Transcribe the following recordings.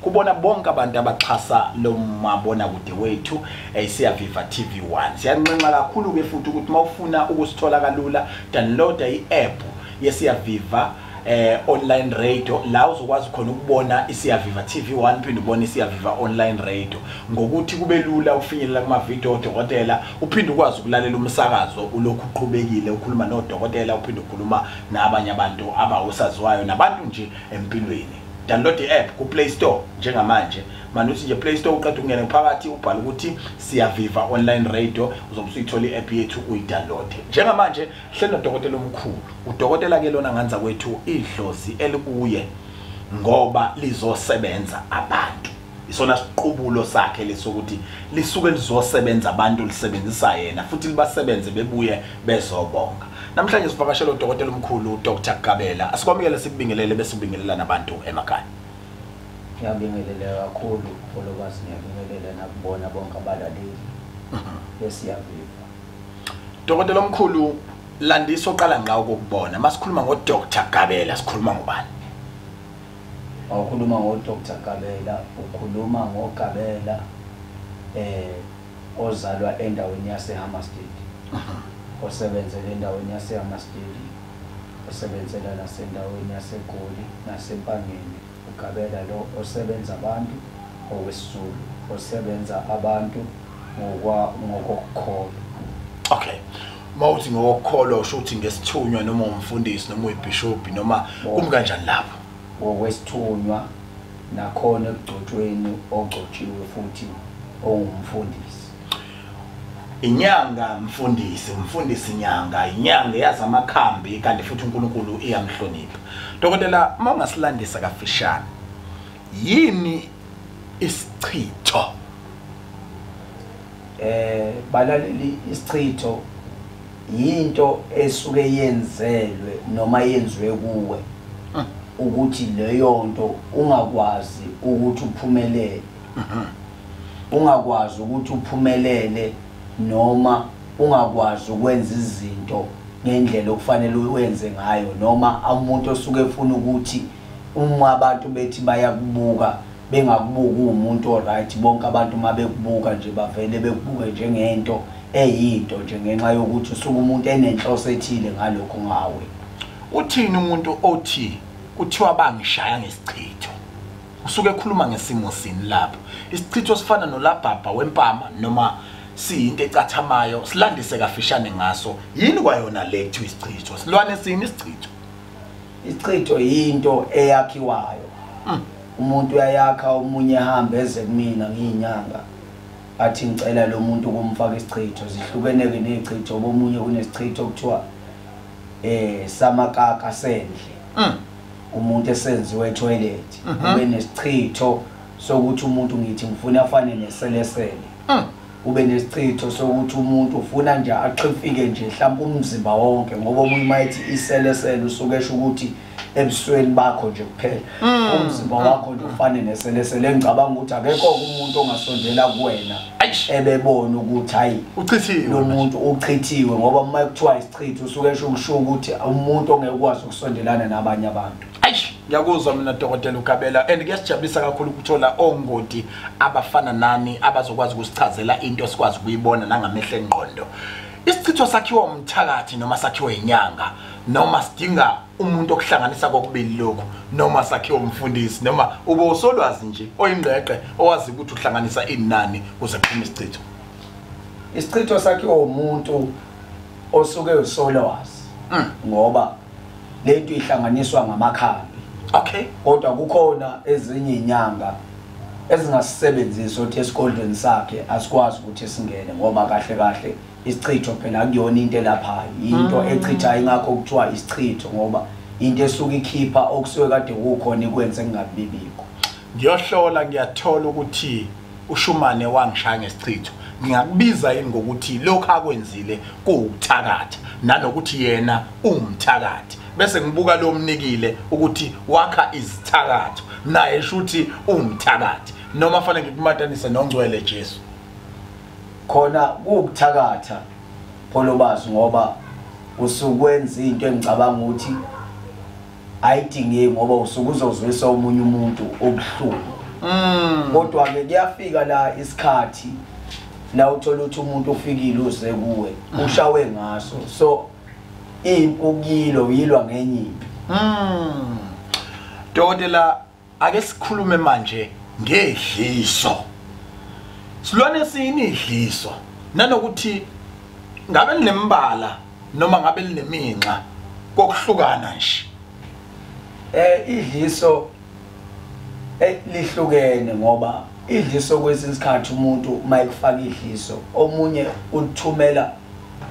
kubona bonke abantu abaxhasa lo mabonakude wethu eh, siyaviva TV1 siyanxenxa kakhulu-ke futhi ukuthi uma ufuna ukusithola kalula downloada i-app yesiyaviva eh online radio la uzokwazi khona ukubona isiyaviva TV1 phinde ubone isiyaviva online radio ngokuthi kube lula ufinyelela kuma video odokotela uphinde ukwazi ukulalela umsakazo ulokhu uqhubekile ukhuluma nodokotela uphinde ukhuluma nabanye abantu abawusaziwayo nabantu nje empilweni download i-app kuplay store njengamanje manuthi nje play store uqeda ukungena phakathi ubhala ukuthi siyaviva online radio uzobe usuyithola i-app yethu uyidownloade njengamanje hleli nodokotela omkhulu udokotela ke lona nganza kwethu idlozi elikuye ngoba lizosebenza abantu isona siqubulo sakhe lesokuthi lisuke lizosebenza abantu lisebenzisa yena futhi libasebenze bebuye bezobonga namhlanje sivakashela udokotela omkhulu uDr Gabela asikwamukele sikubingelele bese ubingelela nabantu emakhaya ngiyabingelela kakhulu followas ngiyabingelela nakubona bonke abalaleli mhm. besiyaviva dokotela omkhulu landisa oqala ngawo kokubona masikhuluma ngoDr Gabela sikhuluma ngobani Mawukhuluma ngo Doctor Gabela ukhuluma ngo Gabela eh ozalwa endaweni yase Hammarsdale. Osebenzele endaweni yase Hammarsdale. Osebenzela nasendaweni yase Goli nasempangeni. UGabela lo osebenza abantu okwesizulu osebenza abantu ngokwa ngokokukholwa. Okay. uma uthi ngokukholwa usho ukuthi ngesithunywa noma umfundisi noma uyibhishobhi noma kumi kanjani lapho ngokwesithunywa nakhona ekugcotshweni ogcotshiwe futhi ongumfundisi inyanga mfundisi umfundisi inyanga inyanga eyazi amakhambi kanti futhi uNkulunkulu iyamhlonipha dokotela uma ungasilandisa kafishane yini isichitho eh balaleli isichitho yinto esuke yenzelwe noma yenziwe kuwe hmm. ukuthi leyo nto ungakwazi ukuthi uphumelele hmm. ungakwazi ukuthi uphumelele noma ungakwazi ukwenza izinto ngendlela okufanele uwenze ngayo noma umuntu osuke efuna ukuthi uma abantu bethi bayakubuka bengakubuki uwumuntu oright bonke abantu uma bekubuka nje bavele bekubuke njengento eyinto nje ngenxa yokuthi usuke umuntu enenhloso ethile ngalokho ngawe uthini umuntu othi kuthiwa bangishaya ngesichitho usuke ekhuluma ngesimo sini lapho isichitho sifana nolabhabha wempama noma siyinto ecathamayo silandise kafishane ngaso yini kwayona le kuthiwa isichitho silwane sini isichitho Ichitho yinto eyakhiwayo. Mm. Umuntu uyayakha omunye ehambe eze kumina ngiyinyanga. Athi ngicela lo muntu ukumfaka isichitho. Zihlukene ke nezichitho bomunye kunesichitho okuthiwa eh samakaka sendle. Mm. Umuntu esenziwe etoilet. Mhm. Ube nesichitho sokuthi umuntu ngithi ngifuna afane neselesele. Mm. kube nesichitho sokuthi umuntu ufuna nje axifike nje mhlawumbe umzimba wonke ngoba omunye uma ethi iselesele usuke esho ukuthi ebusweni bakho nje kuphela mm. umzimba wakho nje ufane neselesele engicabanga ukuthi akekho umuntu ongasondela kuwena ebebona ukuthi hayi uchithiwe lo muntu uchithiwe ngoba uma kuthiwa isichitho usuke esho ukusho ukuthi umuntu ongeke ukwazi ukusondelana nabanye abantu ngiyakuzwa mina dokotela ugabela and kuyasijabulisa kakhulu ukuthola ongoti abafana nami abazokwazi ukusichazela into esikwazi ukuyibona nangamehlo engqondo isichitho sakhiwa umthakathi noma sakhiwa inyanga noma sidinga umuntu okuhlanganisa kokubili lokhu noma sakhiwa umfundisi noma ube usolwazi nje oyingqeqe owazi ukuthi uhlanganisa inani kuze kuphume isichitho isichitho sakhiwa umuntu osuke usolwazi hmm. ngoba lento ihlanganiswa ngamakhambi okay kodwa kukhona ezinye inyanga ezingasisebenzisa othi esigodlweni sakhe asikwazi ukuthi singene ngoba kahle kahle isichitho phela kuyona into elaphayo into mm. echitha ingakho kuthiwa isichitho ngoba into esuke ikhipha okusuke kade kukhona ikwenze kungabibikho ngiyohlola ngiyathola ukuthi ushumane wangishaya ngesichitho ngingakubiza yini ngokuthi lokho akwenzile kuwukuthakatha nanokuthi yena uwumthakathi bese ngibuka lo mnikile ukuthi wakha izithakatho naye shuthi uwumthakathi noma fanele ngikumatanise nongcwele Jesu khona kuwukuthakatha pholobazi ngoba usukwenza into engicabanga ukuthi ayidingeki ngoba usuke uzozwisa omunye umuntu obuhlungu mm. kodwa ke kuyafika la isikhathi la uthola ukuthi umuntu ofikile uze kuwe mm. ushawe ngaso so impukilo yilwa ngenye impi mm. Dodela Ake sikhulume manje ngedliso. Silwane sini idliso nanokuthi ngabe linembala noma ngabe lineminxa kokuhlukana nje. Eh idliso eh, lihlukene ngoba idliso kwesinye isikhathi umuntu uma ekufaka idliso omunye ulithumela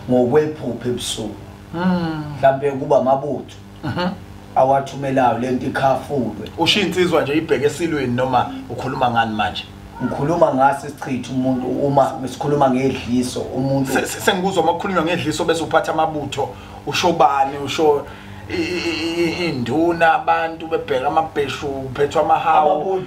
ngokwephupha ebusuku hmm. mhlampe kuba mabutho mhm. awathumelayo lento ikhafulwe usho insizwa nje ibheke esilweni noma ukhuluma ngani manje ngikhuluma ngaso isichitha umuntu uma sikhuluma ngedliso umuntu sengikuzwa uma kukhulunywa ngedliso bese uphatha amabutho usho bani usho induna abantu bebheka amabheshu uphethwa amahawu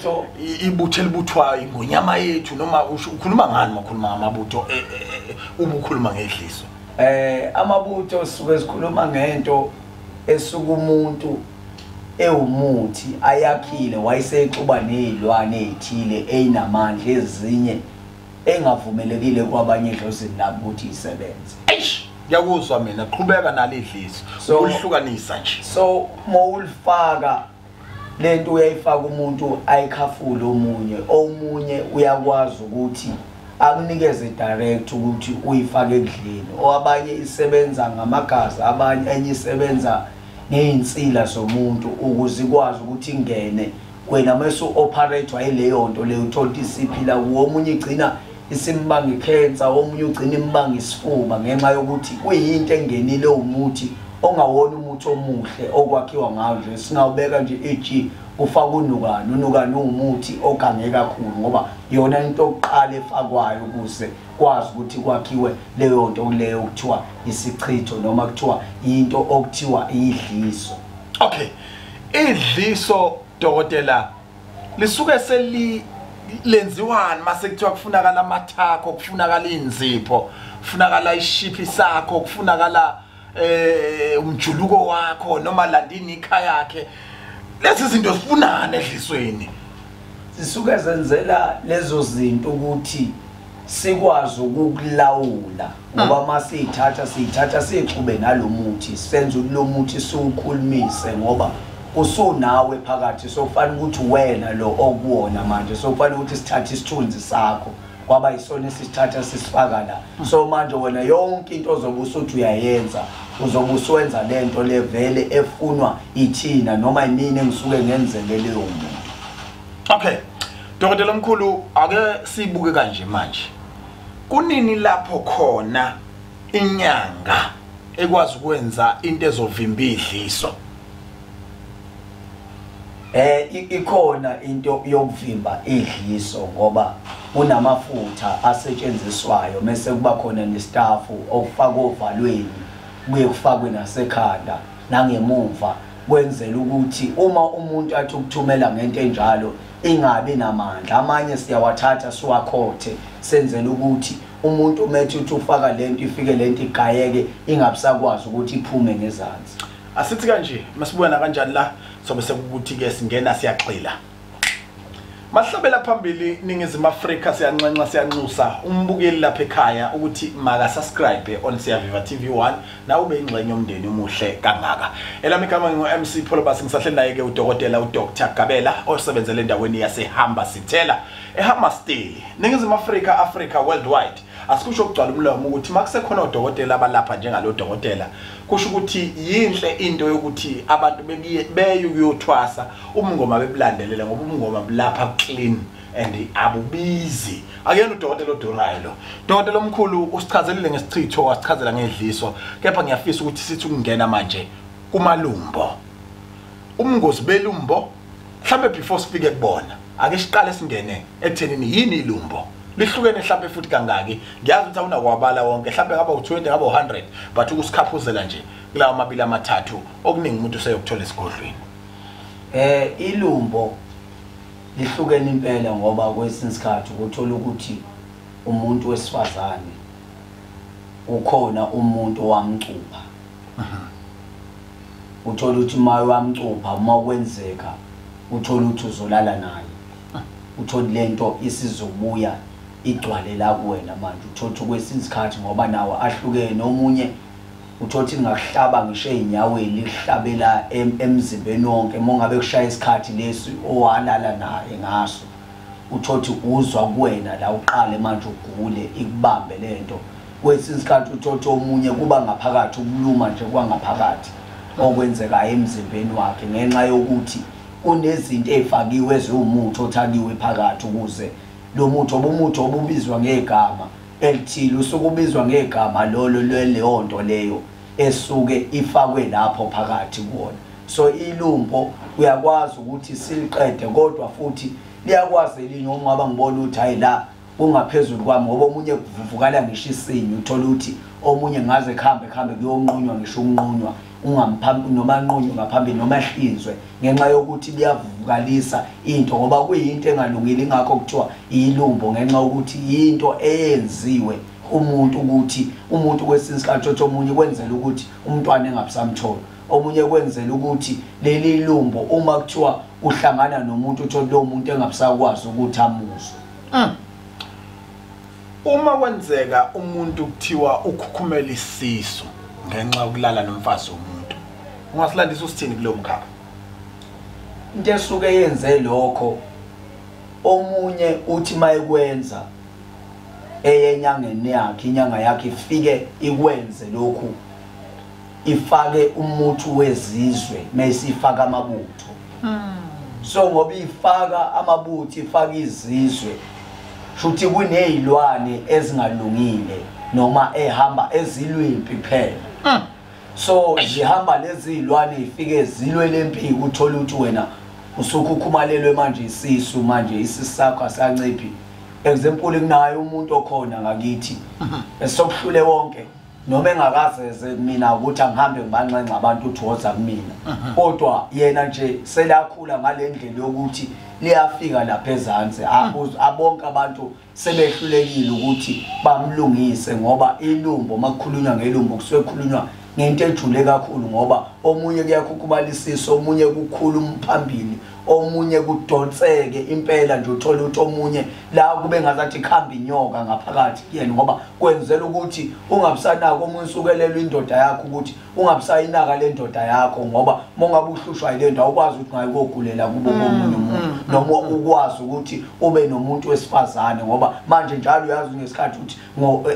ibutho elibuthwayo ingonyama yethu noma ukhuluma ngani makhuluma ngamabutho e, e, e, ubukhuluma ngedliso eh amabutho suke esikhuluma ngento esuka umuntu ewumuthi ayakhile wayesexuba nezilwane ezithile einamandla ezinye engavumelekile kwabanye edlozini labo ukuthi isebenze eish ngiyakuzwa mina qhubeka nalidliso so, ulihlukanisa nje so mawulifaka lento uyayifaka umuntu ayikhafule omunye omunye uyakwazi ukuthi akunikeze direct ukuthi uyifake ekudleni oabanye isebenza ngamagazi abanye enye isebenza ngezinsila zomuntu ukuze ikwazi ukuthi ingene wena mase operate wayileyo nto leyo uthola isiphila kuwo omunye igcina isimbanga ikhensa omunye ugcina imbanga isifuba ngenxa yokuthi kuyinto engenile umuthi ongawona umuthi omuhle okwakhiwa ngawo nje singawubeka nje eg kufaka unukani unukani uwumuthi ogange kakhulu ngoba yona into okuqala efakwayo ukuze kwazi ukuthi kwakhiwe leyo nto kuleyo okuthiwa isichitho noma kuthiwa into okuthiwa idliso okay idliso dokotela lisuke seli lenziwani mase kuthiwa kufunakala amathakho kufunakala inzipho kufunakala ishiphi sakho kufunakala eh umjuluko wakho noma landini ikhaya yakhe lezi zinto zifunana edlisweni zisuke zenzela lezo zinto ukuthi sikwazi ukukulawula ngoba uma siyithatha siyithatha siyixube nalo muthi senze ukuthi lo muthi siwukhulumise ngoba usunawe phakathi sokufanele ukuthi wena lo okuwona manje sokufanele ukuthi sithathe isithunzi sakho kwaba yisona esisithatha sisifaka la so manje wena yonke into ozobe usuthi uyayenza uzobe usuwenza le nto le vele efunwa ithina noma yimini engisuke ngenzele leyo muntu okay dokotela omkhulu ake siyibuke kanje manje Kunini lapho khona inyanga ekwazi ukwenza into ezovimba idliso? Eh ikhona into yokuvimba idliso ngoba kunamafutha asetshenziswayo mese kuba khona nestafu okufaka ovalweni kuye kufakwe nasekhanda nangemuva kwenzela ukuthi uma umuntu athi ukuthumela ngento enjalo ingabi namandla amanye siyawathatha siwakhothe senzela ukuthi umuntu umethi uthi ufaka lento ifike lento igayeke ingabusakwazi ukuthi iphume ngezansi asithi kanje masibuya nakanjani la sobe sekukuthi ke singena siyagxila Mahlabela phambili ningizimu Afrika siyanxenxa siyanxusa umbukeli lapha ekhaya ukuthi maka subscribe on Siyaviva TV1 nawe ube ingxenye yomndeni umuhle kangaka elami igama ngingu-mc pholobasi ngisahleli naye-ke udokotela udr gabela osebenzele endaweni yasehamba sithela ehamba stili ningizimu afrika africa worldwide asikusho ukugcwala umlomo ukuthi uma kusekhona odokotela abalapha njengalo dokotela kusho ukuthi yinhle into yokuthi abantu beye kuyothwasa umngoma bebulandelele ngoba umngoma bulapha clean and abubizi akuyena udokotela odurayo lo dokotela omkhulu usichazelile ngesichitho wasichazela ngedliso kepha ngiyafisa ukuthi sithi ukungena manje kumalumbo umngozi belumbo mhlambe before sifike kubona ake siqale singene ekuthenini yini ilumbo lihlukene mhlambe futhi kangaki ngiyazi ukuthi awunakwabala wonke mhlambe ngaba u20 ngaba u100 but ukusikhaphuzela nje kulawa mabili amathathu okuningi umuntu useyokuthola esigodlweni eh ilumbo Lihlukene impela ngoba kwesinye isikhathi ukuthola ukuthi umuntu wesifazane ukhona umuntu owamcupha uthola ukuthi uma wamcupha uma kwenzeka uthola ukuthi uzolala naye uthole le nto isizobuya igcwale la kuwena manje uthotha kwesinye isikhathi ngoba nawo ahlukene omunye uthothi lingakuhlaba ngisho ezinyaweni likuhlabela emzimbeni wonke mongabe kushaya isikhathi lesi owalala naye ngaso uthothi uzwa kuwena la uqale manje ugule ikubambe lento kwesinye isikhathi uthothi omunye kuba ngaphakathi ukuluma nje kwangaphakathi okwenzekayo emzimbeni wakhe ngenxa yokuthi kunezinto ezifakiwe eziwumuthi othakiwe phakathi ukuze lo muthi obumuthi obubizwa ngegama elithile usuke ubizwa ngegama lolo lweleyo nto leyo esuke ifakwe lapho phakathi kuwona so ilumbo uyakwazi ukuthi siliqede kodwa futhi liyakwazi elinye uma ngaba ngibona ukuthi hayi la kungaphezulu kwami ngoba omunye kuvukala ngisho isinye uthole ukuthi omunye ngaze kuhambe kuhambe kuyonqunywa ngisho ukunqunywa ungamphambi noma anqunywe ngaphambili noma ehlinzwe ngenxa yokuthi buyavukalisa into ngoba kuyinto engalungile ingakho kuthiwa iyilumbo ngenxa yokuthi yinto eyenziwe umuntu ukuthi umuntu kwesinye isikhathi othi omunye kwenzela ukuthi umntwana engabusamthola omunye kwenzela ukuthi leli lumbo uma kuthiwa uhlangana nomuntu uthole lowo muntu engabusakwazi ukuthi amuzwe mm. Uma kwenzeka umuntu kuthiwa ukhukhumela isisu ngenxa yokulala nomfazi womuntu, ungasilandisa usithini kulo mkhakha? Into esuke yenze lokho omunye uthi mayekwenza eyenyangeni yakhe inyanga yakhe ifike ikwenze lokhu ifake umuthi wezizwe mayisifaka amabutho hmm. so ngoba ifaka amabutho ifaka izizwe shuthi kunezilwane ezingalungile noma ehamba ezilwimpi phela hmm. so zihamba lezi zilwane ifike zilwe lempi uthola ukuthi wena usukhukhumalelwe manje isisu manje isisakho asanciphi example kunayo umuntu okhona ngakithi esokuhlule wonke noma engakazeze mina ukuthi angihambe ngibanxenxa abantu uthi woza kumina mhm. kodwa yena nje selakhula ngale ndlela yokuthi liyafika lapha ezansi mhm. abonke abantu sebehlulekile ukuthi bamlungise ngoba ilumbo uma kukhulunywa ngelumbo kusuke kukhulunywa ngento ejule kakhulu ngoba omunye kuyakhukhumalisisa omunye kukhulu umphambili omunye kudonseke impela nje uthole ukuthi omunye la kube ngazathi ikhamba inyoka ngaphakathi kuyena ngoba kwenzela ukuthi ungabusanako omunye usukelelwa indoda yakho ukuthi ungabusayinaka le ndoda yakho ngoba uma ungabe uhlushwa yile nto awukwazi ukuthi ngayikogulela kubo mm, komunye umuntu mm, mm. noma ukwazi ukuthi ube nomuntu wesifazane ngoba manje njalo uyazi ngesikhathi ukuthi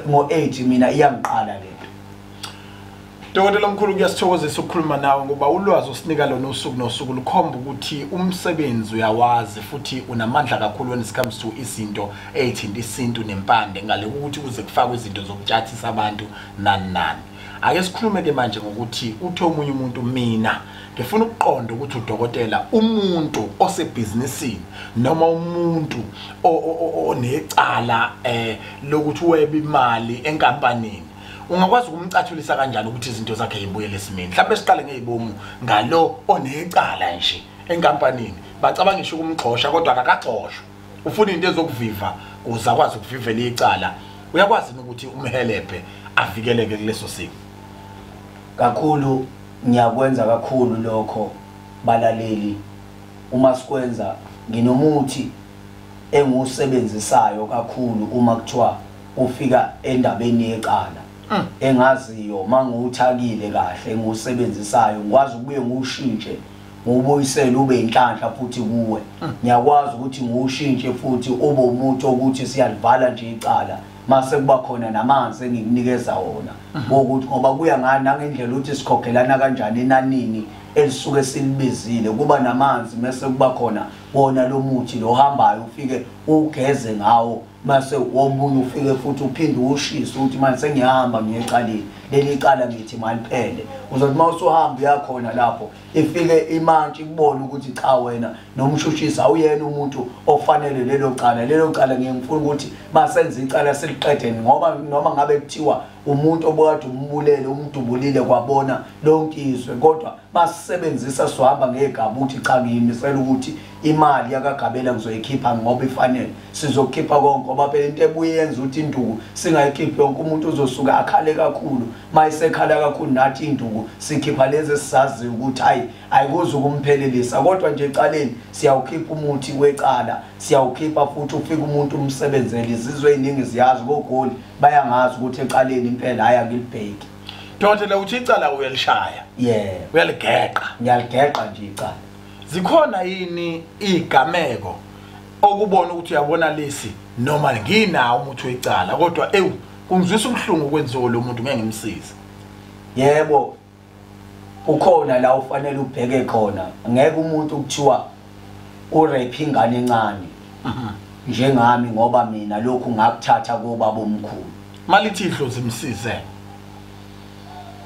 ngo-eight eh, mina iyangiqala le Dokotela omkhulu kuyasithokozisa ukukhuluma nawe ngoba ulwazi osinika lona usuku nosuku lukhomba ukuthi umsebenzi uyawazi futhi unamandla kakhulu when it comes to izinto ezithinta isintu nempande ngale ukuthi kuze kufakwe izinto zokutshathisa abantu nani nani ake sikhulume ke manje ngokuthi uthe omunye umuntu mina ngifuna ukuqonda ukuthi udokotela umuntu osebhizinisini noma umuntu onecala eh lokuthi weba imali enkampanini ungakwazi ukumcathulisa kanjani ukuthi izinto zakhe yibuyele esimeni mhlawumbe siqale ngeyibomu ngalo onecala nje enkampanini bacabanga ngisho ukumgxosha kodwa akakagxoshwa ufuna into ezokuviva kuze akwazi ukuvivela icala uyakwazi ukuthi umhelebhe avikeleke kuleso simo kakhulu ngiyakwenza kakhulu lokho balaleli uma sikwenza nginomuthi engiwusebenzisayo kakhulu uma kuthiwa kufika endabeni yecala mm. engaziyo mangiwuthakile kahle engiwusebenzisayo ngikwazi ukubuye ngiwushintshe ngubuyisele ube inhlanhla futhi kuwe mm. ngiyakwazi ukuthi ngiwushintshe futhi ube umuntu ukuthi siyalivala nje icala mase kuba khona namanzi engikunikeza wona mm. ukuthi ngoba kuya ngani nangendlela ukuthi sikhokhelana kanjani enanini elisuke silibizile kuba namanzi mase kuba khona wona lo muthi lo hambayo ufike ugeze ngawo mase womunye ufike futhi uphinde ushise ukuthi manje sengiyahamba ngiyecalile leli cala ngithi maliphele uzothi uma usuhamba uyakhona lapho ifike imantshi ikubona ukuthi cha wena nomshushisi awuyena umuntu ofanele lelo cala lelo cala ngiye ngifuna ukuthi masenze icala siliqedeni ngoba noma ngabe kuthiwa umuntu obukade umbulele umdubulile kwabona lonke izwe kodwa basisebenzisa sohamba ngegaba ukuthi cha ngiyimisela ukuthi imali yakagabela ngizoyikhipha ngoba ifanele sizokhipha konke ngoba phela into ebuye yenza ukuthi induku singayikhiphi yonke umuntu uzosuka akhale kakhulu uma isekhala kakhulu nathi induku sikhipha lezi esizaziyo ukuthi hayi ayikuze ukumphelelisa kodwa nje ecaleni siyawukhipha umuthi wecala siyawukhipha futhi ufike umuntu umsebenzele izizwe eziningi ziyazi kogoli bayangazi ukuthi ecaleni impela hayi angilibheki dokotela uthi icala uyalishaya ye uyaligeqa ngiyaligeqa nje icala zikhona yini igameko okubona ukuthi uyabona lesi noma nginawo umuthi wecala kodwa ewu kungizwisa ubuhlungu okwenziwe lo muntu ngeke ngimsize yebo ukhona la ufanele ubheke khona ngeke umuntu kuthiwa urape ingane encane njengami ngoba mina lokhu ngakuthatha kobaba omkhulu malithi idlozi msize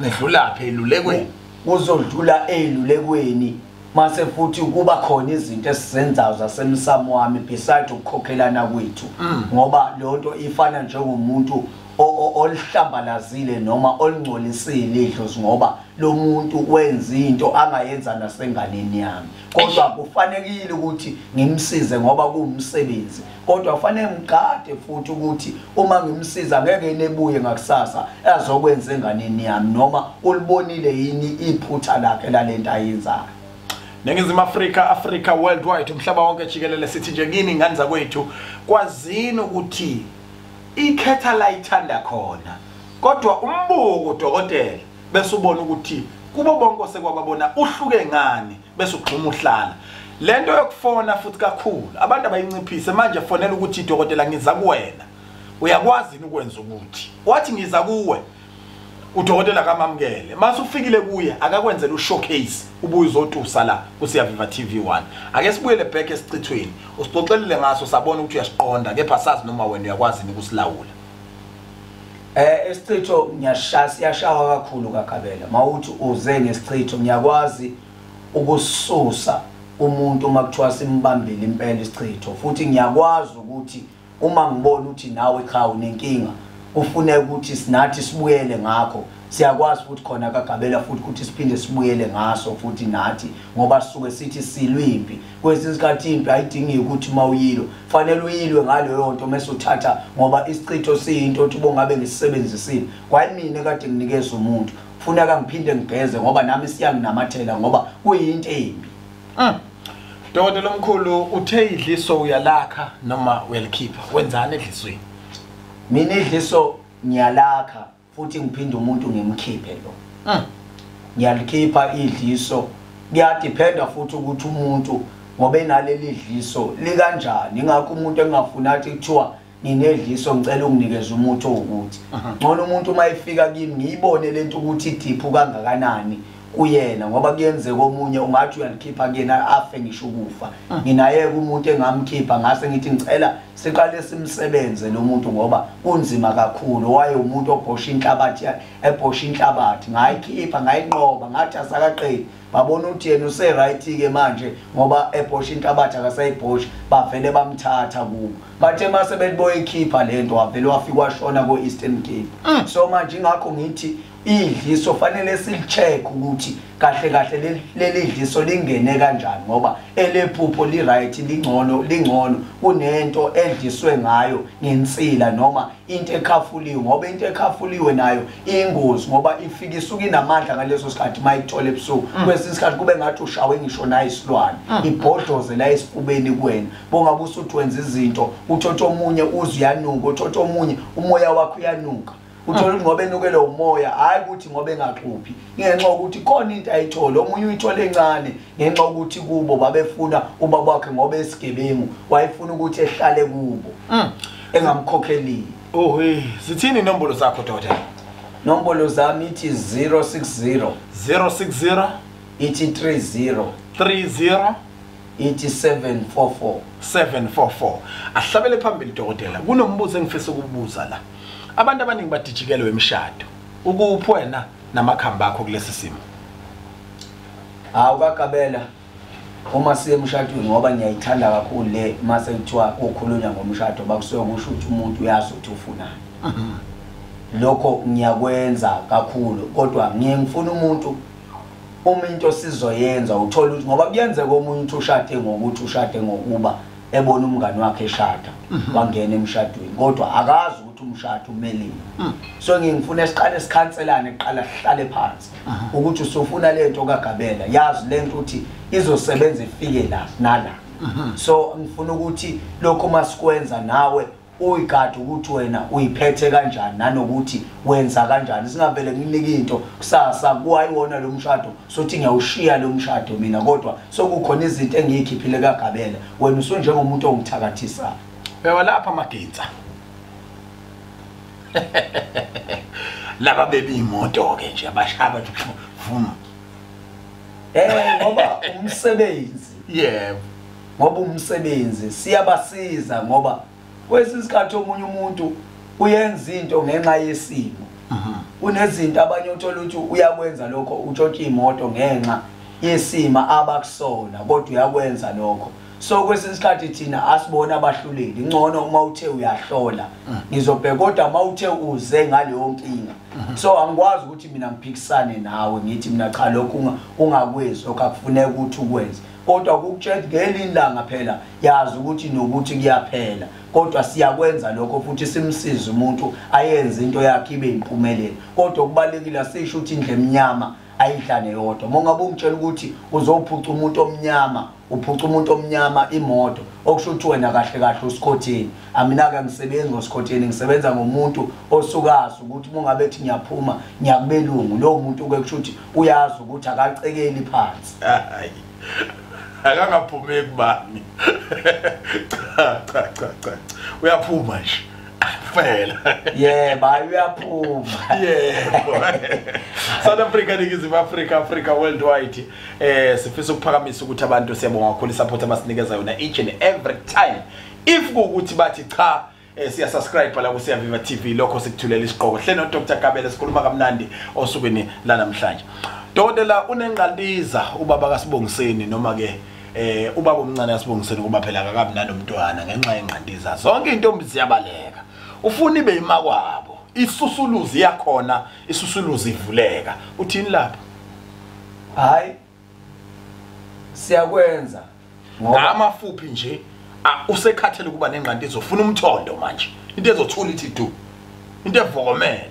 nedlulaphi elulekweni kuzodlula elulekweni mase futhi ukuba khona izinto esizenzayo zasemsamo wami beside ukukhokhelana kwethu mm. ngoba leyo nto ifana njengomuntu olihlambalazile noma olingcolisile idlozi ngoba lo muntu wenza into angayenza nasenganeni yami kodwa kufanelekile ukuthi ngimsize ngoba kuwumsebenzi kodwa kufanele ngigade futhi ukuthi uma ngimsiza ngeke nebuye ngakusasa azokwenza enganeni yami noma ulibonile yini iphutha lakhe lalento ayenzayo neNingizimu Afrika Africa worldwide umhlaba wonke jikelele sithi nje kini ngani zakwethu kwazini ukuthi ikhetha la ithanda khona kodwa umbuko dokotela bese ubona ukuthi kubo bonke osekwababona uhluke ngani bese ugxuma uhlala lento yokufona futhi kakhulu abantu abayinciphise manje fonela ukuthi idokotela ngiza kuwena uyakwazi yini ukwenza ukuthi wathi ngiza kuwe udokotela kamamukele mase ufikile kuye akakwenzela ushowcase ubuye uzotusa la kusiyaviva TV 1 ake sibuyele back esichithweni usixoxelile ngaso sabona ukuthi uyasiqonda kepha sazi noma wena uyakwazi ukusilawula Eh isichitho ngiyashaya siyashawa kakhulu kaGabela mawuthi uze ngesichitho ngiyakwazi ukususa umuntu uma kuthiwa simbambile impela isichitho futhi ngiyakwazi ukuthi uma ngibona ukuthi nawe cha unenkinga kufuneka ukuthi sinathi sibuyele ngakho siyakwazi futhi khona kagabela futhi ukuthi siphinde sibuyele ngaso futhi nathi ngoba sisuke sithi silwimpi kwesinye isikhathi impi ayidingi ukuthi uma uyilwe fanele uyilwe ngaleyo nto mese uthatha ngoba isichitho siyinto othi ubongabe ngisisebenzisile kwayimina kade nginikeza umuntu funeka ngiphinde ngigeze ngoba nami siyanginamathela ngoba kuyinto embi mm. dokotela omkhulu uthe idliso uyalakha noma uyalikhipha wenzani edlisweni mina idliso ngiyalakha futhi ngiphinde umuntu ngimkhiphe lo mm. ngiyalikhipha idliso kuyadiphenda futhi ukuthi umuntu ngoba enaleli dliso likanjani ingakho umuntu engafuni athi kuthiwa nginedliso ngicela unginikeze umuthi owukuthi ngcono umuntu uma efika kimi ngiyibone le nto ukuthi idiphu kangakanani kuyena ngoba kuyenzeka omunye ungathi uyalikhipha kuyena afe ngisho ukufa ah. nginayeka umuntu engamkhipha ngase ngithi ngicela siqale simsebenze lo muntu ngoba kunzima kakhulu waye umuntu obhosha inhlabathi ebhosha inhlabathi ngayikhipha ngayinqoba ngathi asakaqedi babona ukuthi yena useright-ke manje ngoba ebhosha inhlabathi akasayibhosha bavele bamthatha kubo bathe mase beliboyikhipha le nto wavele wafika washona ko-eastern cape mm. so manje ingakho ngithi idliso fanele silicheck ukuthi kahle kahle leli dliso lingene kanjani ngoba elephupho li right lingcono lingcono kunento edliswe ngayo ngensila noma into ekhafuliwe ngoba into ekhafuliwe nayo ingozi ngoba ifika isuke inamandla ngaleso sikhathi mayithola ebusuku mm. kwesinye isikhathi kube ngathi ushawe ngisho naye isilwane mm. ibhodloze la esifubeni kuwena bongabe usuthi wenza izinto uthotha omunye uze uyanuka uthotha omunye umoya wakho uyanuka uthola ukuthi ngoba enukelwe umoya hhayi ukuthi ngoba engaxuphi ngenxa yokuthi khona into ayithole omunye uyithole encane ngenxa yokuthi kubo babefuna ubaba wakhe ngoba esigebengu wayefuna ukuthi ehlale kubo mm. engamkhokhelile ohe sithini inombolo zakho doda nombolo zami ithi 060 060 ithi 30 30 ithi 744 744 ahlabele phambili dokotela kunombuzo engifisa ukubuza la Abantu abaningi badijikelwe imishado. Ukuphi wena namakhamba akho kulesi simo? Hawu kakabela uma siye emshadweni ngoba ngiyayithanda kakhulu le mase kuthiwa kukhulunywa ngomshado bakusuke kusho ukuthi umuntu uyazi ukuthi ufunani. Lokho ngiyakwenza kakhulu kodwa ngiye ngifuna umuntu uma into sizoyenza uthola ukuthi ngoba kuyenzeka omunye uthi ushade ngokuthi ushade ngokuba ebona umngane wakhe eshada mhm. wangena emshadweni kodwa akazi ukuthi umshado umelini mm. so ngingifuna siqale sikhanselane kuqala sihlale phansi mhm. ukuthi usufuna le nto kagabela yazi le nto ukuthi izosebenza ifike la nala mhm. so ngifuna ukuthi lokho masikwenza nawe uyigadi ukuthi wena uyiphethe kanjani nanokuthi wenza kanjani singavele nginike into kusasa kuwayiwona lo mshado sothi ngiyawushiya lo mshado mina kodwa sokukhona izinto engiyikhiphile kagabela wena usunjengomuntu ongithakathisayo bewa lapha amagintsa laba bebi imoto ke nje abashaya bathi vuma eh ngoba umsebenzi yebo ngoba umsebenzi siyabasiza ngoba kwesinye isikhathi omunye umuntu uyenza into ngenxa yesimo mhm. kunezinto abanye uthola ukuthi uyakwenza lokho utshontsha imoto ngenxa yesima abakusona kodwa uyakwenza lokho so kwesinye isikhathi thina asibona abahluleli ngcono uma uthe uyahlola mhm. ngizobheka kodwa uma uthe uze ngaleyo nkinga mhm. so angikwazi ukuthi mina ngiphikisane nawe ngithi mina cha lokhu ungakwenzi lokho akufuneka ukuthi ukwenze kodwa ukukutshela ukuthi ngelinye ilanga phela yazi ukuthi nokuthi kuyaphela kodwa siyakwenza lokho futhi simsize umuntu ayenze into yakhe ibe impumelelo kodwa okubalekile asisho ukuthi indle emnyama ayidlane yodwa uma ungabe ungitshela ukuthi uzophuca umuntu omnyama uphuca umuntu omnyama imoto okusho ukuthi wena kahle kahle usikhotheni amina-ke ngisebenzi ngosikhotheni ngisebenza ngomuntu osukazi ukuthi uma ungabe ethi ngiyaphuma ngiyakubelungu lowo muntu-ke kusho ukuthi uyazi ukuthi akacekeli phansi akangaphumi ekubani cha cha cha cha uyaphuma nje fela yebo hayi uyaphuma yebo South Africa ningizimu Africa Africa worldwide eh sifisa ukuphakamisa ukuthi abantu siyabonga kakhulu support abasinikeza yona each and every time if ukuthi bathi cha Eh siya subscribe la ku Siya Viva TV lokho sikuthulela isiqoko. Hle no Dr Kabele sikhuluma kamnandi osukwini la namhlanje. Dokotela unengqandiza ubaba kaSibongiseni noma ke eh ubaba omncane kaSibongiseni kuba phela akabi nanomntwana ngenxa yengqandiza. Zonke intombi ziyabaleka. Ufuna ibe imakwabo. Isusuluzi yakhona isusuluzi ivuleka. Uthini lapho? Hayi siyakwenza ngamafuphi nje usekhathele ukuba nengqanti izofuna umthondo manje into ezothula ithi du into evokomele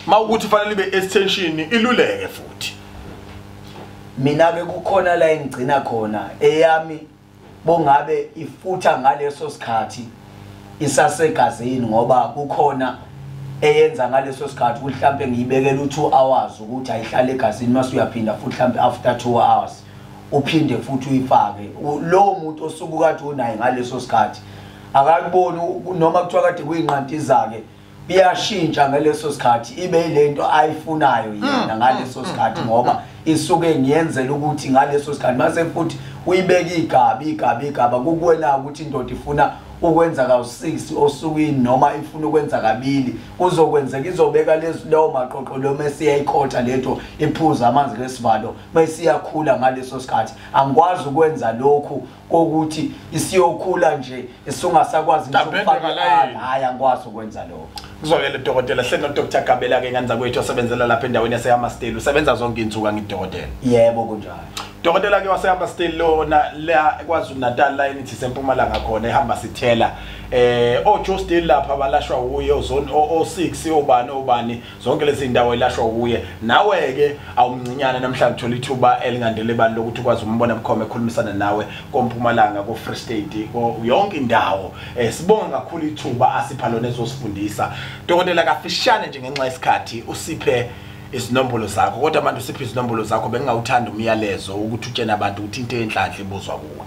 ma ukuthi fanele ibe extension iluleke futhi mina bekukhona la engigcina khona eyami bongabe ifutha ngaleso sikhathi isasegazini ngoba kukhona eyenza ngaleso sikhathi ukuthi mhlampe ngiyibekela u2 hours ukuthi ayihlale egazini mase uyaphinda futhi mhlampe after 2 hours uphinde futhi uyifake lowo muntu osuke kade unaye ngaleso sikhathi akakuboni noma kuthiwa kade kuyinqanti zake iyashintsha ngaleso sikhathi ibe yilento ayifunayo yena mm, mm, ngaleso mm, sikhathi ngoba isuke ngiyenzela ukuthi ngaleso sikhathi mase futhi uyibeka igabi igabi igaba kukuwena ukuthi indoda ifuna ukwenza kawu6 osukwini noma ifuna ukwenza kabili kuzokwenzeka izobeka lezi lawo maqoqo lo mase yayikhotha lento iphuza amanzi lesivalo mase iyakhula ngaleso sikhathi angikwazi ukwenza lokhu kokuthi isiyokhula nje isungasakwazi hayi angikwazi ukwenza lokho kuzwakele dokotela hle nodr gabela ke nganza kwethu osebenzela lapha endaweni yasehamasteli usebenza zonke iy'nsuku angidokotela yebo kunjalo dokotela ke wasehamasteli lona la kwazulu-natal la enithi sempumalanga khona ehamba sithela eh ojoe still lapha balashwa wuye ozone o-six obani obani zonke lezi ndawo elashwa kuye nawe-ke awumncinyane namhlanje thola ithuba elingandele bani lokuthi ukwazi umbona bukhoma ekhulumisana nawe kompumalanga ko-free state yonke indawo um sibonge kakhulu ithuba asipha lona ezosifundisa dokotela kafishane nje ngenxa yesikhathi usiphe izinombolo zakho kodwa manje usiphe izinombolo zakho bengingawuthanda umyalezo ukuthi utshene abantu ukuthi into enhlanhla ibuzwa kuwe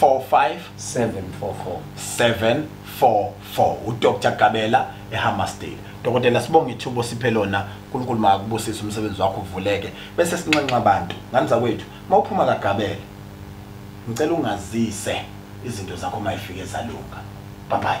744 udr gabela ehammersdale dokotela sibonge ithubo siphe lona nkulunkulu makubusise umsebenzi wakho uvuleke bese sinxenxa abantu ngani zakwethu uma uphuma kagabela ngicela ungazise izinto zakho uma ifike zalunga babayi